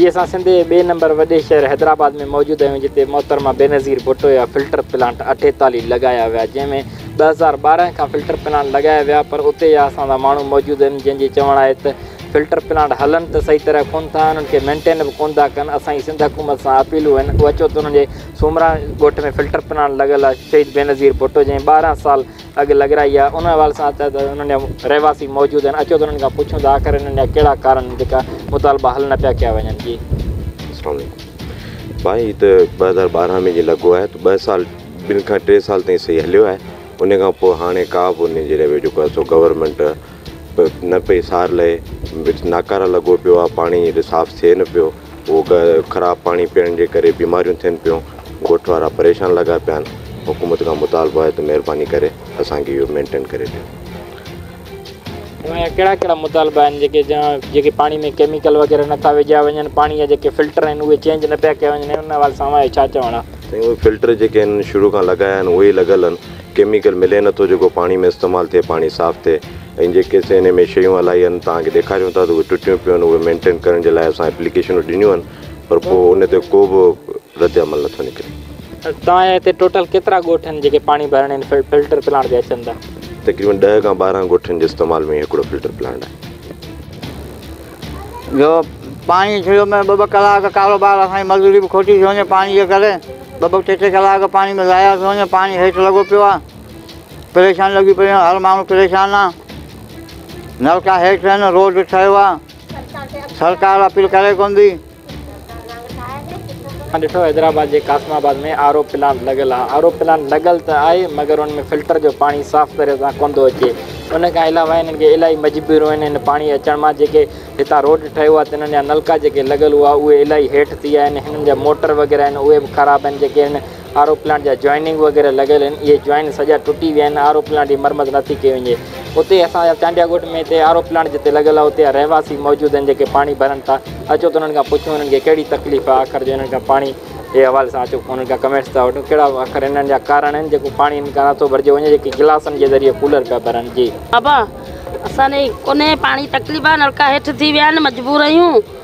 جي اسان سنڌ جي ٻئي نمبر وڏي شهر حيدرآباد ۾ موجود آهيون جتي محترمه بينظير ڀٽو جا فلٽر پلانٽ اٺيتالي لڳايا ويا جنهن ۾ ٻه هزار ٻارهن کان فلٽر پلانٽ لڳايا ويا پر اتي جا اسان سان ماڻهو موجود آهن جن جي چوڻ آهي ته فلٽر پلانٽ هلن ته صحيح طرح ڪون ٿا انهن کي مينٽين به ڪون ٿا ڪن اسان جي سنڌ حڪومت سان اپيلون آهن اهو اچو ته انهن جي سومرا ڳوٺ ۾ فلٽر پلانٽ لڳل آهي شهيد بينظير ڀٽو جنهن ٻارهن سال اڳ لڳرائي آهي ان حوالي سان چاهي ته انهن جا رهواسي موجود آهن اچو ته انهن کان پڇون ته آخر انهن جا ڪهڙا ڪارڻ آهن جيڪا مطالبا حل نه پيا ڪيا وڃن جي. اسلام عليڪم ڀائي هي ته ٻه هزار ٻارهن ۾ جي لڳو آهي ته ٻه سال ٻن کان ٽي سال تائين صحيح هليو آهي ان کان پوء هاڻي ڪا به ان جي ريويو جيڪو آهي سو گورمينٽ نه پئي سار لهي وچ ناڪاره لڳو پيو آهي پاڻي صاف ٿئي نه پيو هو ڪهي ته خراب پاڻي پيئڻ جي ڪري بيماريون ٿين پيون، ڳوٺ وارا پريشان لڳا پيا آهن، حڪومت کان مطالبو آهي ته مهرباني ڪري اسان کي اهو مينٽين ڪري ڏيو. اوهان جا ڪهڙا ڪهڙا مطالبا آهن جيڪي جيڪي پاڻي ۾ ڪيميڪل وغيره نه ٿا وجهيا وڃن، پاڻي جا جيڪي فلٽر آهن اهي چينج نه پيا ڪيا وڃن، انهن حوالي سان اوهان جو ڇا چوڻ آهي؟ سائين اهي فلٽر جيڪي هنن شروع کان لڳايا آهن اهي ئي لڳل آهن، ڪيميڪل ملي نه ٿو جيڪو پاڻي ۾ استعمال ٿئي پاڻي صاف ٿئي ۽ جيڪي اسين انهي ۾ شيون هلائي هن توهان کي ڏيکاريون ٿا ته اهي ٽٽيون پيون هن اهي مينٽين ڪرڻ جي لاء اسان اپليڪيشنون ڏنيون هن پر پوء ان تي ڪو به رد عمل نه ٿو نڪري. توهان جي هتي ٽوٽل ڪيترا ڳوٺ هن جيڪي پاڻي ڀرڻ هن فلٽر پلانٽ تي اچن ٿا؟ تقريبن ڏهه کان ٻارهن ڳوٺن جي استعمال ۾ هي هڪڙو فلٽر پلانٽ آهي. جو پاڻي شروع ۾ ٻه ٻه ڪلاڪ ڪاروبار اسان جي مزوري به کوٽي ٿي وڃي پاڻي جي ڪري ٻه ٻه ٽي ٽي ڪلاڪ پاڻي ۾ ضايع ٿو وڃي پاڻي هيٺ لڳو پيو آهي پريشانيون لڳيون پيون آهن هر ماڻهو پريشان آهي نلڪا هيٺ آهن روڊ ٺهيو آهي سرڪار اپيل ڪري ڪونه ٿي اسان ڏٺو حيدرآباد جي Qasimabad ۾ R O plant لڳل آهي آر او پلانٽ لڳل ته آهي مگر ان ۾ فلٽر جو پاڻي صاف طرح سان ڪونه ٿو اچي ان کان علاوه هنن کي الاهي مجبوريون آهن هن پاڻي اچڻ مان جيڪي هتان روڊ ٺهيو آهي تنهن جا نلڪا جيڪي لڳل هئا اهي الاهي هيٺ ٿي ويا آهن هنن جا موٽر وغيره آهن اهي به خراب آهن جيڪي هن آر او پلانٽ جا جوائننگ وغيره لڳل آهن اهي جوائننگ سڄا ٽٽي ويا آهن آر او پلانٽ جي مرمت نٿي ڪئي وڃي اتي اسان جا چانڊيا ڳوٺ ۾ هتي آر او پلانٽ جتي لڳل آهي اتي جا رهواسي موجود آهن جيڪي پاڻي ڀرن ٿا اچو ته انهن کان پڇون انهن کي ڪهڙي تڪليف آهي آخر جو انهن کان پاڻي جي حوالي سان اچو انهن کان ڪمينٽس ٿا وٺون ڪهڙا آخر انهن جا ڪارڻ آهن جيڪو پاڻي انهن کان نٿو ڀرجيو وڃي جيڪي گلاسن جي ذريعي ڪولر پيا ڀرن جي. بابا اسان ڏي ڪونهي پاڻي تڪليف آهي نلڪا هيٺ ٿي ويا آهن مجبور آهيون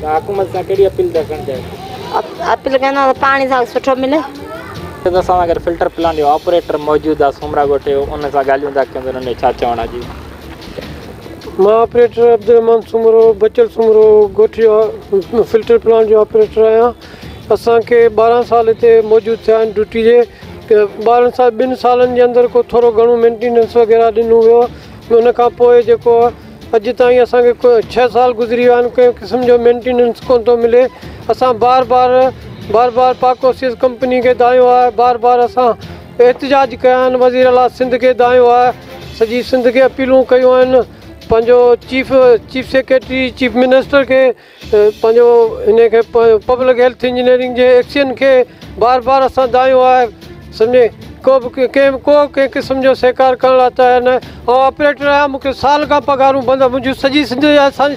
ته حڪومت سان ڪهڙي اپيل ٿا ڪرڻ چاهيو؟ اپيل ڪندو ته پاڻي اسانکي سٺو ملي. اسان سان گڏ فلٽر پلانٽ جو آپريٽر موجود آ سومرا ڳوٺ جو ان سان ڳالهيون ٿا ڪيون ته انهن جو ڇا چوڻ آ جي. مان آپريٽر عبدالرحمان سومرو بچل سومرو ڳوٺ جو فلٽر پلانٽ جو آپريٽر آهيان اسان کي ٻارهن سال هتي موجود ٿيا آهن ڊيوٽي جي ٻارهن سال ٻن سالن جي اندر ڪو ٿورو گهڻو مينٽيننس وغيره ڏنو ويو ان کان پوء جيڪو اڄ تائين اسان کي ڇهه سال گذري ويا آهن ڪنهن قسم جو مينٽيننس ڪونه ٿو ملي اسان بار بار بار بار پاڪ اوسيس ڪمپني کي دانهيو آهي بار بار اسان احتجاج ڪيا آهن وزير اعليٰ سنڌ کي دانهيو آهي سڄي سنڌ کي اپيلون ڪيون آهن پنهنجو chief chief secretary chief minister کي پنهنجو انهيء کي پبلڪ هيلٿ انجنيئرنگ جي ايڪشن کي بار بار اسان دانهيو آهي سمجهي ڪو به ڪنهن به ڪو ڪنهن قسم جو سهڪار ڪرڻ لاء تيار ناهي آئون آپريٽر آهيان مون کي سال کان پگهارون بند آهن منهنجون سڄي سنڌ جا اسان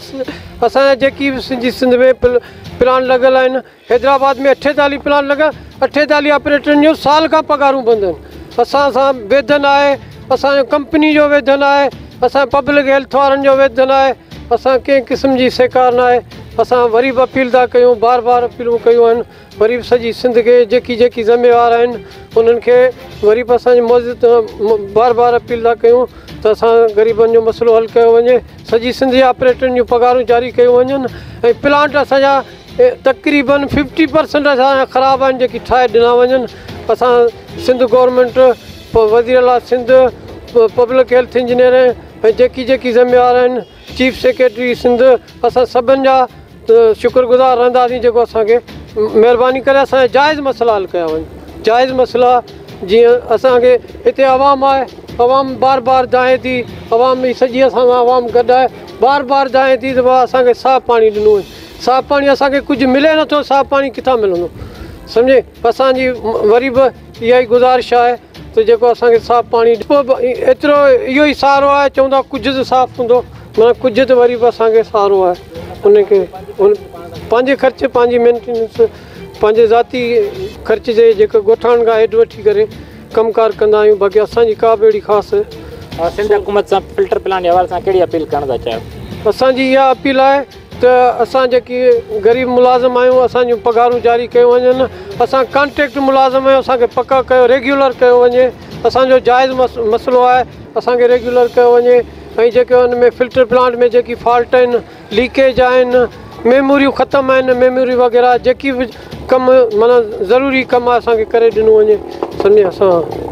اسان جا جيڪي به سنڌ جي سنڌ ۾ پل پلانٽ لڳل آهن حيدرآباد ۾ اٺيتاليهه پلانٽ لڳا، اٺيتاليهه آپريٽرن جون سال کان پگهارون بند آهن، اسان سان ويڌن آهي، اسان جو ڪمپني جو ويڌن آهي، اسان جو پبلڪ هيلٿ وارن جو ويڌن آهي، اسان ڪنهن قسم جي سهڪار ناهي، اسان وري به اپيل ٿا ڪيون، بار بار اپيلون ڪيون آهن، وري به سڄي سنڌ کي جيڪي جيڪي ذميوار آهن انهن کي وري به اسان بار بار اپيل ٿا ڪيون ته اسان غريبن جو مسئلو حل ڪيو وڃي، سڄي سنڌ جي آپريٽرن جون پگهارون جاري ڪيون وڃن ۽ پلانٽ اسان جا تقريبن ففٽي پرسنٽ اسان جا خراب آهن جيڪي ٺاهي ڏنا وڃن اسان سنڌ گورنمينٽ وزير اعلٰي سنڌ پبلڪ هيلٿ انجنيئر ۽ جيڪي جيڪي ذميوار آهن چيف سيڪريٽري سنڌ اسان سڀن جا شڪر گذار رهنداسين جيڪو اسانکي مهرباني ڪري اسان جا جائز مسئلا حل ڪيا وڃن جائز مسئلا جيئن اسانکي هتي عوام آهي عوام بار بار دانهين ٿي عوام جي سڄي اسان سان عوام گڏ آهي بار بار دانهين ٿي ته بابا اسانکي صاف پاڻي ڏنو وڃي صاف پاڻي اسان کي ڪجهه ملي نه ٿو صاف پاڻي ڪٿان ملندو سمجهي اسان جي وري به اها ئي گذارش آهي ته جيڪو اسان کي صاف پاڻي ڏيو ايترو اهو ئي سهارو آهي چون ٿا ڪجهه ته صاف هوندو مگر ڪجهه ته وري به اسان کي سهارو آهي ان کي پنهنجي خرچ پنهنجي مينٽيننس پنهنجي ذاتي خرچ جي جيڪو ڳوٺاڻن کان هيڊ وٺي ڪري ڪم ڪار ڪندا آهيون باقي اسان جي ڪا به اهڙي خاص سنڌ حڪومت سان فلٽر پلانٽ جي حوالي سان ڪهڙي اپيل ڪرڻ ٿا چاهيو اسان جي اها اپيل آهي ته اسان جيڪي غريب ملازم آهيون اسان جون پگهارون جاري ڪيون وڃن اسان ڪانٽريڪٽ ملازم آهيون اسان کي پڪا ڪيو ريگيولر ڪيو وڃي اسان جو جائز مسئلو آهي اسان کي ريگيولر ڪيو وڃي ۽ جيڪي ان ۾ فلٽر پلانٽ ۾ جيڪي فالٽ آهن ليڪيج آهن ميموريون ختم آهن ميموري وغيره جيڪي بج ڪم معنيٰ ضروري ڪم آهي اسان کي ڪري ڏنو وڃي سني اسان.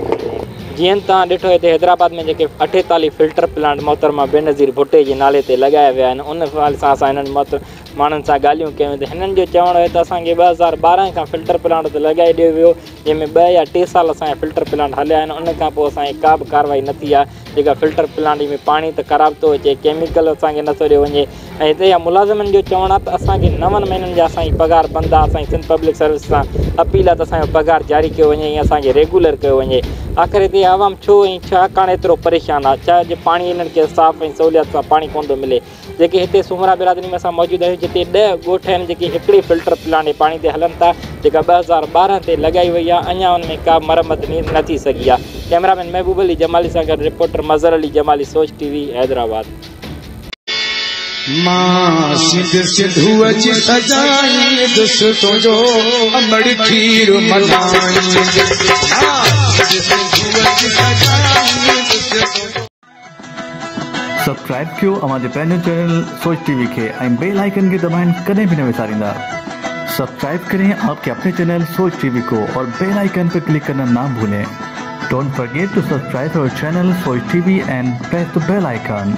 جيئن توهان ڏٺو هتي حيدرآباد ۾ جيڪي اٺيتاليهه فلٽر پلانٽ محترمه بينظير ڀٽي جي نالي تي لڳايا ويا آهن ان حوالي سان اسان هنن محترم ماڻهن سان ڳالهيون ڪيون ته هنن جو چوڻ هو ته اسان کي ٻه هزار ٻارهن کان فلٽر پلانٽ تي لڳائي ڏيو ويو جنهن ۾ ٻه يا ٽي سال اسان جا فلٽر پلانٽ هليا آهن ان کان پوء اسان جي ڪا به ڪارروائي نه ٿي آهي جيڪا فلٽر پلانٽ ۾ پاڻي ته خراب ٿو اچي ڪيميڪل اسان کي نٿو ڏيو وڃي ۽ هتي جا ملازمن جو چوڻ آهي ته اسان کي نون مهينن جا اسان جي پگهار بند آهي اسان جي سنڌ پبلڪ سروس سان اپيل آهي ته اسان جو پگهار جاري ڪيو وڃي ۽ اسان کي ريگولر ڪيو وڃي آخر هتي جي عوام ڇو ۽ ڇاڪاڻ ايترو پريشان آهي ڇا جو پاڻي هنن کي صاف ۽ سهوليات سان پاڻي ڪونه ٿو ملي جيڪي هتي سومرا برادري ۾ اسان موجود آهيون جتي ڏهه ڳوٺ آهن جيڪي هڪڙي فلٽر پلانٽ جي پاڻي تي هلن ٿا جيڪا ٻه هزار ٻارهن تي لڳائي وئي آهي اڃان ان ۾ ڪابه مرمت نير نه ٿي سگهي آهي ڪئميرا مين محبوب علي جمالي سان گڏ رپورٽر مظهر علي جمالي سوچ ٽي وي حيدرآباد. مان سنڌ سنڌوء جي سجائيندس تنهنجو امڙ کير ملهائيندس مان سنڌ سنڌوء جي سجائيندس تنهنجو سبسڪرائب ڪيو اوهان جي پنهنجو چينل سوچ ٽي وي کي ۽ بيل آئيڪن کي دٻائڻ ڪڏهن به نه وساريندا سبسڪرائب ڪرين آپ ڪي اپني چينل سوچ ٽي وي ڪو اور بيل آئيڪن پي ڪلڪ ڪرنا نا ڀولين ڊونٽ فرگيٽ ٽو سبسڪرائب اور channel Soch T V and press the bell icon.